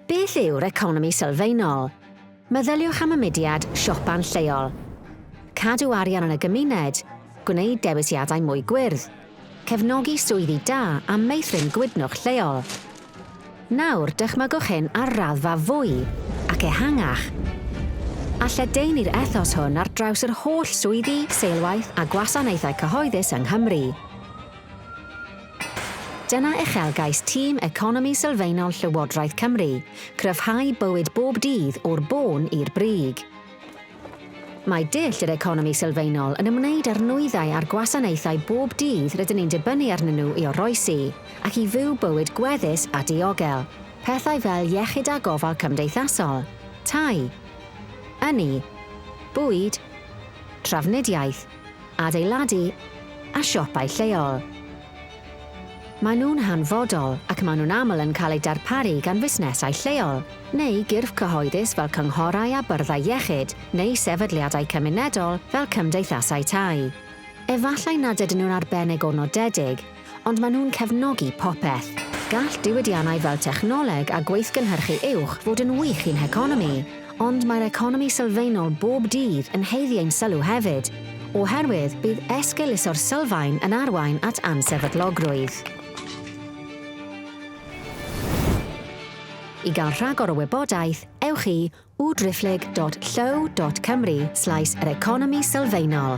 Beth yw'r economi sylfaenol? Meddyliwch am y mudiad siopa'n lleol. Cadw arian yn y gymuned, gwneud dewisiadau mwy gwyrdd, cefnogi swyddi da a meithrin gwydnwch lleol. Nawr, dychmygwch hyn ar raddfa fwy ac ehangach. A lledaenu'r ethos hwn ar draws yr holl swyddi, seilwaith a gwasanaethau cyhoeddus yng Nghymru. Dyna uchelgais tîm Economi Sylfaenol Llywodraeth Cymru, cryfhau bywyd bob dydd o'r bôn i'r brig. Mae dull yr economi sylfaenol yn ymwneud â'r nwyddau a'r gwasanaethau bob dydd rydyn ni'n dibynnu arnyn nhw i oroesi ac i fyw bywyd gweddus a diogel, pethau fel iechyd a gofal cymdeithasol, tai, ynni, bwyd, trafnidiaeth, adeiladu a siopau lleol. Maen nhw'n hanfodol ac maen nhw'n aml yn cael eu darparu gan fusnesau lleol, neu gyrff cyhoeddus fel cynghorau a byrddau iechyd, neu sefydliadau cymunedol fel cymdeithasau tai. Efallai nad ydyn nhw'n arbennig o nodedig, ond maen nhw'n cefnogi popeth. Gall diwydiannau fel technoleg a gweithgynhyrchu uwch fod yn wych i'n heconomi, ond mae'r economi sylfaenol bob dydd yn haeddu ein sylw hefyd, oherwydd bydd esgeuluso'r sylfaen yn arwain at ansefydlogrwydd. I gael rhagor o wybodaeth, ewch i www.driphlyg.llyw.cymru slaes yr economi sylfaenol.